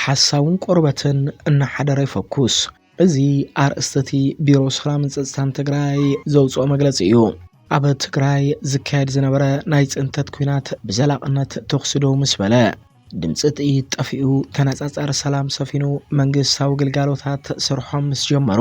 ሓሳውን ቆርበትን እናሓደረ ይፈኩስ። እዚ ኣርእስቲ እቲ ቢሮ ሰላምን ፀፅታን ትግራይ ዘውፅኦ መግለፂ እዩ። ኣብ ትግራይ ዝካየድ ዝነበረ ናይ ፅንተት ኩናት ብዘላቕነት ተኹሲ ደው ምስ በለ፣ ድምፂ ጥይት ጠፊኡ ተነፃፃሪ ሰላም ሰፊኑ መንግስታዊ ግልጋሎታት ስርሖም ምስ ጀመሩ፣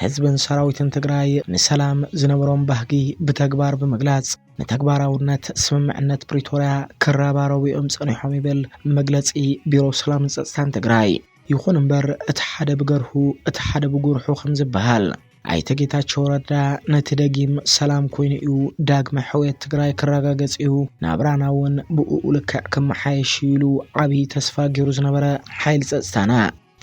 ህዝብን ሰራዊትን ትግራይ ንሰላም ዝነበሮም ባህጊ ብተግባር ብምግላፅ ንተግባራውነት ስምምዕነት ፕሪቶርያ ክረባረቡ እዮም ፀኒሖም ይብል መግለፂ ቢሮ ሰላምን ፀፅታን ትግራይ። ይኹን እምበር እቲ ሓደ ብገርሁ እቲ ሓደ ብጉርሑ ከምዝበሃል ኣይተ ጌታቸው ረዳ ነቲ ደጊም ሰላም ኮይኑ እዩ፣ ዳግመ ሕውየት ትግራይ ክረጋገፅ እዩ፣ ናብራና እውን ብኡኡ ልክዕ ክመሓየሽ እዩ ኢሉ ዓብዪ ተስፋ ገይሩ ዝነበረ ሓይሊ ፀፅታና፣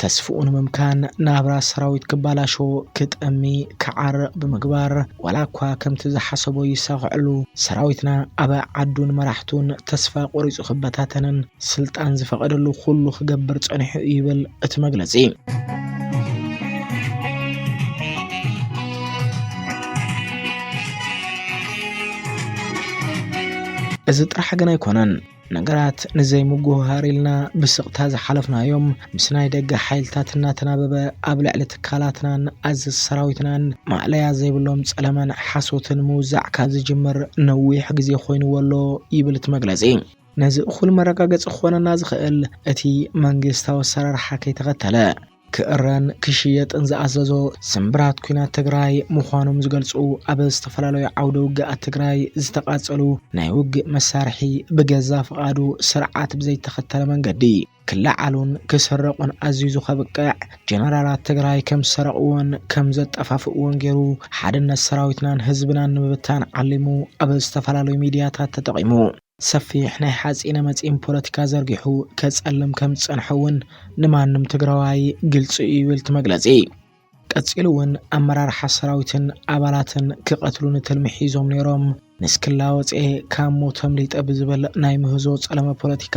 ተስፍኡ ንምምካን ናብራ ሰራዊት ክባላሾ፣ ክጠሚ፣ ክዓርቕ ብምግባር ዋላ እኳ ከምቲ ዝሓሰቦ ይሳኸዐሉ ሰራዊትና ኣብ ዓዱን መራሕቱን ተስፋ ቆሪጹ ክበታተንን ስልጣን ዝፈቐደሉ ኩሉ ክገብር ጸኒሑ እዩ ይብል እቲ መግለጺ። እዚ ጥራሕ ግን ኣይኮነን። ነገራት ንዘይምጉህሃር ኢልና ብስቕታ ዝሓለፍናዮም ምስ ናይ ደገ ሓይልታት እናተናበበ ኣብ ልዕሊ ትካላትናን ኣዘዝ ሰራዊትናን ማእለያ ዘይብሎም ጸለመን ሓሶትን ምውዛዕ ካብ ዝጅምር ነዊሕ ግዜ ኮይንዎ ኣሎ ይብል እቲ መግለጺ። ነዚ እኹል መረጋገጺ ክኾነና ዝኽእል እቲ መንግስታዊ ኣሰራርሓ ከይተኸተለ፣ ክእረን ክሽየጥን ዝኣዘዞ ስምብራት ኩናት ትግራይ ምዃኖም ዝገልፁ ኣብ ዝተፈላለዩ ዓውደ ውግኣት ትግራይ ዝተቓፀሉ ናይ ውግእ መሳርሒ ብገዛ ፍቓዱ ስርዓት ብዘይተኸተለ መንገዲ ክለዓሉን ክስረቑን ኣዚዙ ከብቅዕ ጀነራላት ትግራይ ከም ዝሰረቕዎን ከም ዘጠፋፍእዎን ገይሩ ሓድነት ሰራዊትናን ህዝብናን ንምብታን ዓሊሙ ኣብ ዝተፈላለዩ ሚድያታት ተጠቒሙ ሰፊሕ ናይ ሓፂነ መፂን ፖለቲካ ዘርጊሑ ከፀልም ከም ዝፀንሐ እውን ንማንም ትግራዋይ ግልፂ እዩ ይብል እቲ መግለፂ። ቀፂሉ እውን ኣመራርሓ ሰራዊትን ኣባላትን ክቐትሉኒ ትልሚ ሒዞም ነይሮም፣ ንስክላ ወፂኤ ካብ ሞት ኣምሊጠ ብዝብል ናይ ምህዞ ፀለመ ፖለቲካ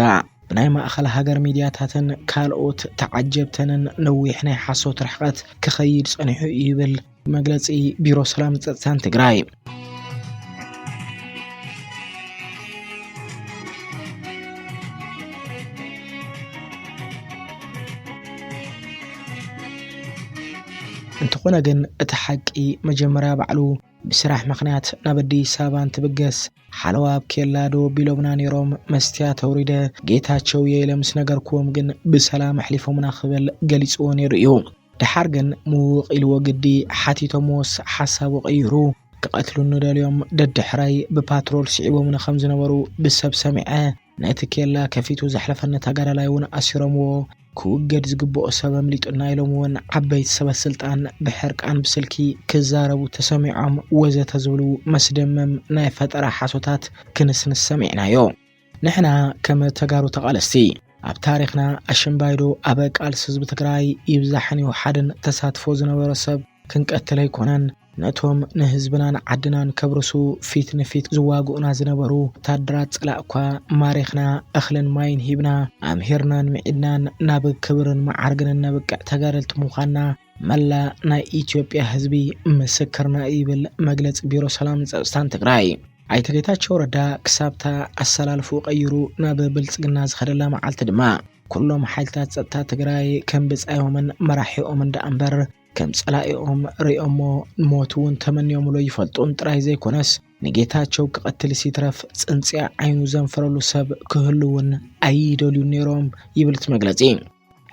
ብናይ ማእኸል ሃገር ሚድያታትን ካልኦት ተዓጀብተንን ነዊሕ ናይ ሓሶት ርሕቐት ክኸይድ ፀኒሑ እዩ ይብል። መግለፂ ቢሮ ሰላምን ፀጥታን ትግራይ እንተኾነ ግን እቲ ሓቂ መጀመርያ ባዕሉ ብስራሕ ምክንያት ናብ ኣዲስ ኣበባ እንትብገስ ሓለዋ ኣብ ኬላ ዶ ቢሎምና ነይሮም መስትያ ተውሪደ ጌታቸው የኢለ ምስ ነገርክዎም ግን ብሰላም ኣሕሊፎምና ክብል ገሊፅዎ ነይሩ እዩ። ደሓር ግን ምውቕ ኢልዎ ግዲ ሓቲቶምዎስ ሓሳቡ ቀይሩ ክቐትሉኒ ደልዮም ደድሕረይ ብፓትሮል ስዒቦምኒ ከም ዝነበሩ ብሰብ ሰሚዐ። ነቲ ኬላ ከፊቱ ዘሕለፈኒ ተጋዳላይ እውን ኣሲሮምዎ። ክውገድ ዝግብኦ ሰብ ኣምሊጡና ኢሎም እውን ዓበይቲ ሰበስልጣን ብሕርቃን ብስልኪ ክዛረቡ ተሰሚዖም ወዘተ ዝብሉ መስደመም ናይ ፈጠራ ሓሶታት ክንስንስ ሰሚዕናዮ። ንሕና ከም ተጋሩ ተቓለስቲ ኣብ ታሪኽና ኣሽምባይዶ ኣብ ቃልሲ ህዝቢ ትግራይ ይብዛሕን ይውሓድን ተሳትፎ ዝነበሮ ሰብ ክንቀትል ኣይኮነን ነቶም ንህዝብናን ዓድናን ከብርሱ ፊት ንፊት ዝዋግኡና ዝነበሩ ወታደራት ፀላእኳ ማሪኽና እኽልን ማይን ሂብና ኣምሂርናን ምዒድናን ናብ ክብርን መዓርግን እነብቅዕ ተጋደልቲ ምዃንና መላእ ናይ ኢትዮጵያ ህዝቢ ምስክርና እዩ ይብል መግለፂ ቢሮ ሰላምን ፀፅታን ትግራይ። ኣይተ ጌታቸው ረዳ ክሳብታ ኣሰላልፍኡ ቀይሩ ናብ ብልፅግና ዝኸደላ መዓልቲ ድማ ኩሎም ሓይልታት ፀጥታ ትግራይ ከም ብፃዮምን መራሒኦምን ደኣ እምበር ከም ጸላኢኦም ርእዮሞ ሞት እውን ተመንዮምሉ ይፈልጡን ጥራይ ዘይኮነስ ንጌታቸው ክቐትልስ ይትረፍ ጽንጽያ ዓይኑ ዘንፈረሉ ሰብ ክህሉ እውን ኣይደልዩን ነይሮም ይብል እቲ መግለጺ።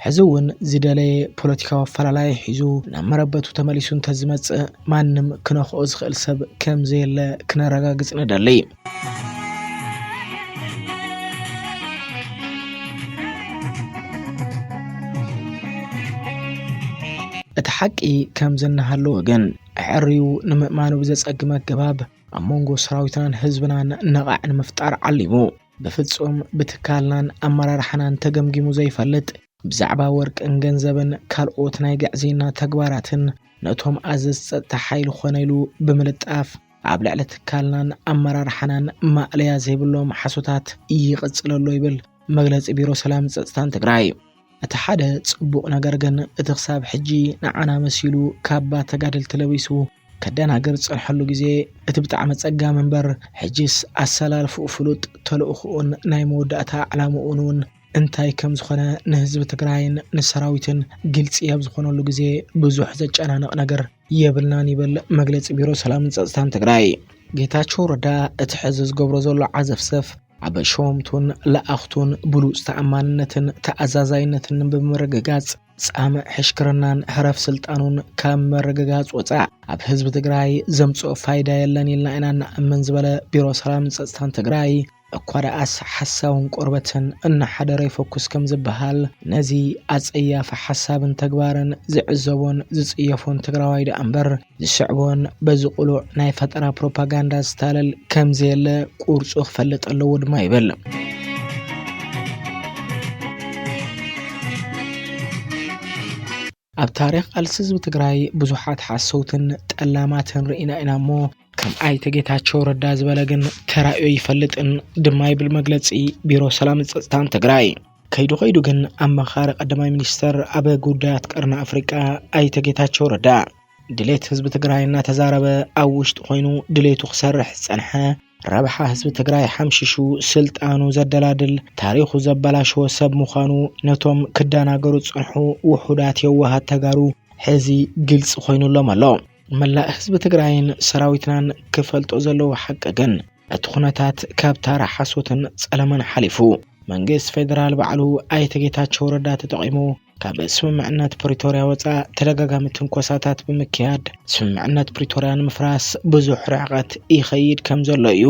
ሕዚ እውን ዝደለየ ፖለቲካዊ ኣፈላላይ ሒዙ ናብ መረበቱ ተመሊሱ እንተዝመፅእ ማንም ክነኽኦ ዝኽእል ሰብ ከም ዘየለ ክነረጋግፅ ንደሊ። እቲ ሓቂ ከምዚ እናሃለወ ግን ኣዐርዩ ንምእማኑ ብዘጸግም ኣገባብ ኣብ መንጎ ሰራዊትናን ህዝብናን ነቓዕ ንምፍጣር ዓሊሙ ብፍፁም ብትካልናን ኣመራርሓናን ተገምጊሙ ዘይፈልጥ ብዛዕባ ወርቅን ገንዘብን ካልኦት ናይ ግዕዝይና ተግባራትን ነቶም ኣዘዝቲ ፀጥታ ሓይሊ ኮነ ኢሉ ብምልጣፍ ኣብ ልዕሊ ትካልናን ኣመራርሓናን ማእለያ ዘይብሎም ሓሶታት ይቕፅል ኣሎ ይብል መግለፂ ቢሮ ሰላምን ፀፅታን ትግራይ። እቲ ሓደ ፅቡቕ ነገር ግን እቲ ክሳብ ሕጂ ንዓና መሲሉ ካባ ተጋደልቲ ለቢሱ ከደናግር ዝጸንሐሉ ግዜ እቲ ብጣዕሚ ኣጸጋሚ እምበር ሕጂስ ኣሰላልፍኡ ፍሉጥ ተልእኽኡን ናይ መወዳእታ ዕላምኡን እውን እንታይ ከም ዝኾነ ንህዝቢ ትግራይን ንሰራዊትን ግልጺ ኣብ ዝኾነሉ ግዜ ብዙሕ ዘጨናንቕ ነገር የብልናን ይብል መግለጺ ቢሮ ሰላምን ጸጥታን ትግራይ። ጌታቸው ረዳ እቲ ሕዚ ዝገብሮ ዘሎ ዓዘፍዘፍ ኣብ ሸወምቱን ለኣኽቱን ብሉጽ ተኣማንነትን ተኣዛዛይነትን ንምርግጋጽ፣ ፃምእ ሕሽክርናን ህረፍ ስልጣኑን ካብ ምርግጋፅ ወፃእ ኣብ ህዝቢ ትግራይ ዘምፅኦ ፋይዳ የለን ኢልና ኢና እንኣምን ዝበለ ቢሮ ሰላምን ፀፅታን ትግራይ እኳ ደኣስ ሓሳውን ቆርበትን እናሓደረ ይፈኩስ ከምዝበሃል ነዚ ኣፀያፊ ሓሳብን ተግባርን ዝዕዘቦን ዝፅየፎን ትግራዋይ ደኣምበር ዝስዕቦን በዚ ቅሉዕ ናይ ፈጠራ ፕሮፓጋንዳ ዝታለል ከም ዘየለ ቁርፁ ክፈልጥ ኣለዎ ድማ ይብል። ኣብ ታሪኽ ቃልሲ ህዝቢ ትግራይ ብዙሓት ሓሰውትን ጠላማትን ርኢና ኢና እሞ ከም ኣይተ ጌታቸው ረዳ ዝበለ ግን ተራእዮ ይፈልጥን ድማ ይብል መግለፂ ቢሮ ሰላምን ፀፅታን ትግራይ። ከይዱ ከይዱ ግን ኣማኻሪ ቀዳማይ ሚኒስተር ኣብ ጉዳያት ቀርኒ ኣፍሪቃ ኣይተ ጌታቸው ረዳ ድሌት ህዝቢ ትግራይ እናተዛረበ ኣብ ውሽጢ ኮይኑ ድሌቱ ክሰርሕ ዝጸንሐ ረብሓ ህዝቢ ትግራይ ሓምሽሹ ስልጣኑ ዘደላድል ታሪኹ ዘበላሸወ ሰብ ምዃኑ ነቶም ክደናገሩ ዝጸንሑ ውሑዳት የዋሃት ተጋሩ ሕዚ ግልጺ ኮይኑሎም ኣሎ። መላእ ህዝቢ ትግራይን ሰራዊትናን ክፈልጦ ዘለዎ ሓቂ ግን እቲ ኩነታት ካብ ታራ ሓሶትን ጸለመን ሓሊፉ መንግስት ፌደራል ባዕሉ ኣይተ ጌታቸው ረዳ ተጠቒሙ ካብ ስምምዕነት ፕሪቶርያ ወፃእ ተደጋጋሚ ትንኮሳታት ብምክያድ ስምምዕነት ፕሪቶርያ ንምፍራስ ብዙሕ ርሕቐት ይኸይድ ከም ዘሎ እዩ።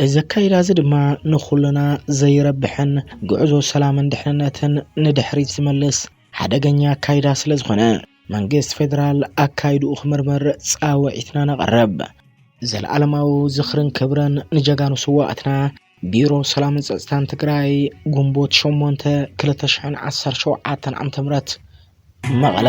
እዚ ኣካይዳ እዚ ድማ ንኹልና ዘይረብሕን ጉዕዞ ሰላምን ድሕንነትን ንድሕሪት ዝመልስ ሓደገኛ ኣካይዳ ስለዝኾነ መንግስቲ ፌደራል ኣካይድኡ ክምርምር ፃውዒትና ነቕርብ። ዘለኣለማዊ ዝኽርን ክብርን ንጀጋኑ ስዋኣትና። ቢሮ ሰላምን ፀፅታን ትግራይ ግንቦት 8 2017 ዓ.ም መቐለ